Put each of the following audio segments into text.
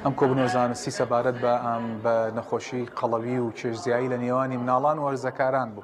ئەم کۆبوونەوە زانستی سەبارەت بە نەخۆشیی قەڵەوی و چێشتزیایی لە نێوانی مناڵان و هەرزەکاران بوو.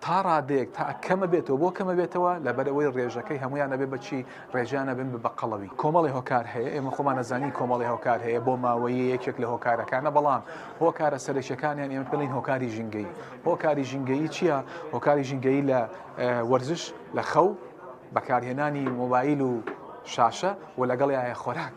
تا ڕادەیەک تا کەمە بێتەوە بۆ کەمە بێتەوە لەبەرەوەی ڕێژەکەی هەمویان نەبێ بەچی ڕێژیان نەبن بە بەقەڵەوی کۆمەڵی هۆکار هەیە ئێمە خۆمان نەزانانی کۆمەڵی هۆکار هەیە بۆ ماوەی یەکێک لە هۆکارەکانە بەڵام هۆکارە سەرەکیەکانیان ئێمە پێڵین هۆکاری ژینگەی هۆکاری ژینگەی چییە هۆکاری ژینگەی لە وەرزش لە خەو بەکارهێنانی مۆبایل و شاشە و لەگەڵ یاە خۆراک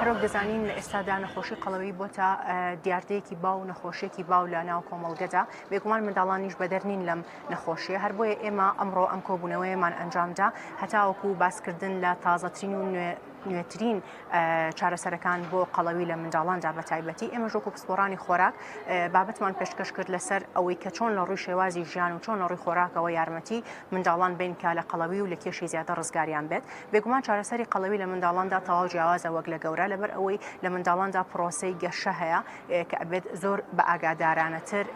هەرەوەک دەزانین لە ئێستادا نەخۆشی قەڵەوی بۆتە دیاردەیەکی باو و نەخۆشیێکی باو لە ناو کۆمەڵگەدا بێگومان منداڵانیش بەدەر نین لەم نەخۆشیە هەر بۆیە ئێمە ئەمڕۆ ئەم کۆبوونەوەیەمان ئەنجامدا هەتاوەکو باسکردن لە تازەترین و نوێ نوێترین چارەسەرەکان بۆ قەڵەوی لە منداڵاندا بە تایبەتی ئێمە ژۆک و پسپۆرانی خۆراک بابەتمان پێشکەش کرد لەسەر ئەوەی کە چۆن لە ڕووی شێوازی ژیان و چۆن لە ڕووی خۆراکەوە یارمەتی منداڵان بین کە لە قەڵەوی و لە کێشی زیادە ڕزگاریان بێت بێگومان چارەسەری قەڵەوی لە منداڵاندا تەواو جیاوازە وەک لە گەورە لەبەر ئەوەی لە منداڵاندا پرۆسەی گەشە هەیە کە ئەبێت زۆر بە ئاگادارانەتر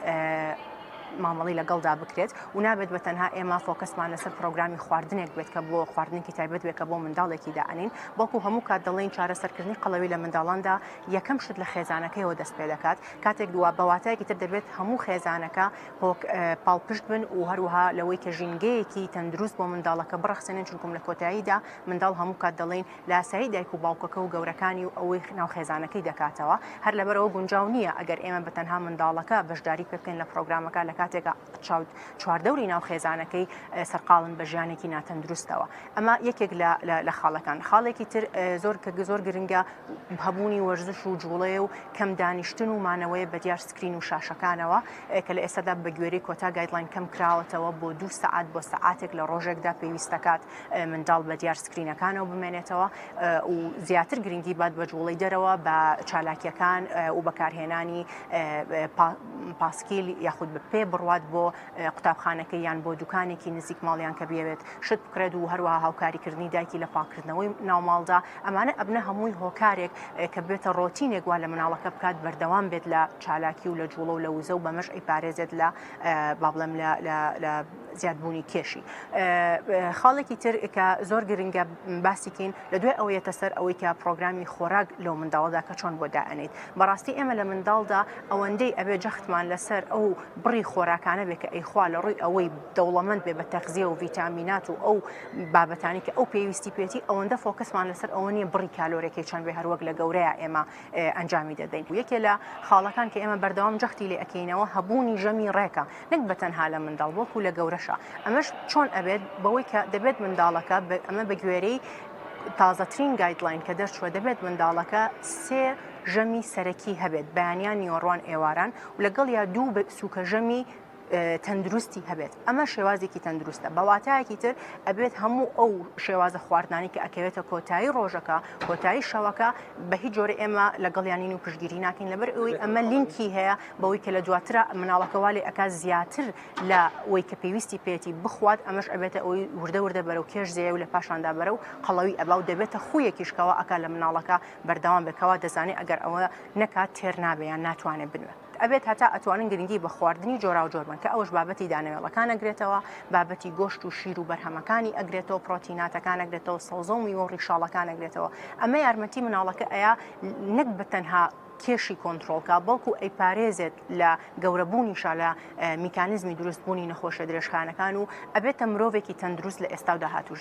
مامەڵی لەگەڵدا بکرێت و نابێت بە تەنها ئێمە فۆکەسمان لەسەر پرۆگرامی خواردنێک بێت کە بۆ خواردنێکی تایبەت بێت کە بۆ منداڵێکی داەنین بەڵکو هەموو کات دەڵین چارەسەرکردنی قەڵەوی لە منداڵاندا یەکەم شت لە خێزانەکەیەوە دەست پێ دەکات کاتێک دووە بەواتایەکی تر دەبێت هەموو خێزانەکە هۆک پاڵپشت بن و هەروەها لەوەی کە ژینگەیەکی تەندروست بۆ منداڵەکە بڕەخسێنن چونکم لە کۆتاییدا منداڵ هەموو کات دەڵین لاسایی دایک و باوکەکە و گەورەکانی و ئەوەی خناو خێزانەکەی دەکاتەوە هەر لەبەرەوە گونجاو نییە ئەگەر ئێمە بە تەنها منداڵەکە بەشداری پێکەین لە پرۆگرامەکە لە کاتێکا چاوت چواردەوری ناو خێزانەکەی سەرقاڵن بە ژیانێکی ناتەندروستەوە ئەمە یەکێک لە خاڵەکان خاڵێکی تر زۆر کە زۆر گرنگە هەبوونی وەرزش و جوڵەیە و کەم دانیشتن و مانەوەیە بەدیار سکرین و شاشەکانەوە کە لە ئێستادا بەگوێرەی کۆتا گایدلاین کەم کراوەتەوە بۆ دوو سەعات بۆ سەعاتێک لە ڕۆژێکدا پێویستەکات منداڵ بەدیار سکرینەکانەوە بمێنێتەوە و زیاتر گرنگی بات بە جوڵەی دەرەوە بە چالاکیەکان و بەکارهێنانی پاسکیل یاخود بە پێ بڕوات بۆ قوتابخانەکەی یان بۆ دوکانێکی نزیک ماڵیان کە بیەوێت شت بکرێت و هەروەها هاوکاریکردنی دایکی لە پاکردنەوەی ناوماڵدا ئەمانە ئەبنە هەمووی هۆکارێک کە بێتە ڕۆتینێک وا لە مناڵەکە بکات بەردەوام بێت لە چالاکی و لە جوڵە و لە وزە و بەمەش ئەی پارێزێت لە با بڵێم لە زیادبوونی کێشی خاڵێکی تر کە زۆر گرنگە باسیکەین لە دوای ئەوە یەتە سەر ئەوەی کە پرۆگرامی خۆراک لەو منداڵدا کە چۆن بۆ دائەنیت بەڕاستی ئێمە لە منداڵدا ئەوەندەی ئەبێ جەختمان لەسەر ئەو بڕی خۆراکانە بێ کە ئەیخوا لە ڕووی ئەوەی دەوڵەمەند بێ بە تەخزیە و ڤیتامینات و ئەو بابەتانی کە ئەو پێویستی پێێتی ئەوەندە فۆکەسمان لەسەر ئەوە نیە بڕی کالۆرەکەی چەند بێ هەروەک لە گەورەیە ئێمە ئەنجامی دەدەین و یەکێ لە خاڵەکان کە ئێمە بەردەوام جەختی لێ ئەکەینەوە هەبوونی ژەمی ڕێکە نەک بە تەنها لە منداڵ وەکو لە گەورەشە ئەمەش چۆن ئەبێت بەوەی کە دەبێت منداڵەکە ئەمە بە گوێرەی تازەترین گایدلاین کە دەرچوە دەبێت منداڵەکە سێ ژەمی سەرەکی هەبێت بەیانیان نیۆڕوان ئێواران و لەگەڵ یا دوو سوکە ژەمی تەندروستی هەبێت ئەمە شێوازێکی تەندروستە بەواتایەکی تر ئەبێت هەموو ئەو شێوازە خواردنانی کە ئەکەوێتە کۆتایی ڕۆژەکە کۆتایی شەوەکە بە هیچ جۆرە ئێمە لەگەڵیانین و پشگیری ناکەین لەبەر ئەوەی ئەمە لینکی هەیە بەوەی کە لە دواتر مناڵەکەوالی ئەک زیاتر لە وەی کە پێویستی پێێتی بخوات ئەمەش ئەبێتە ئەوی وردە وردە بەرەو کێش زێ و لە پاشاندا بەرە و قەڵەوی ئەبا و دەبێتە خویەکیشکەوە ئەک لە مناڵەکە بەردەوام بکەوە دەزانێت ئەگەر ئەوە نەکات تێر نابێ یان ناتوانێت بنوێت ئەبێت هەتا ئەتوانن گرنگی بە خواردنی جۆراوجۆر بن کە ئەوەش بابەتی دانەوێڵەکان ئەگرێتەوە بابەتی گۆشت و شیر و بەرهەمەکانی ئەگرێتەوە پرۆتیناتەکان ئەگرێتەوە سەوزە و میوە و ڕیشاڵەکان ئەگرێتەوە ئەمە یارمەتی مناڵەکە ئەیا نەک بە تەنها کێشی کۆنتترۆلکە بەڵکو ئەی پارێزێت لە گەورەبوونی شالە میکانزمی دروستبوونی نەخۆشە درێژخانەکان و ئەبێتە مرۆڤێکی تەندروست لە ئێستا و داهاتوشدا.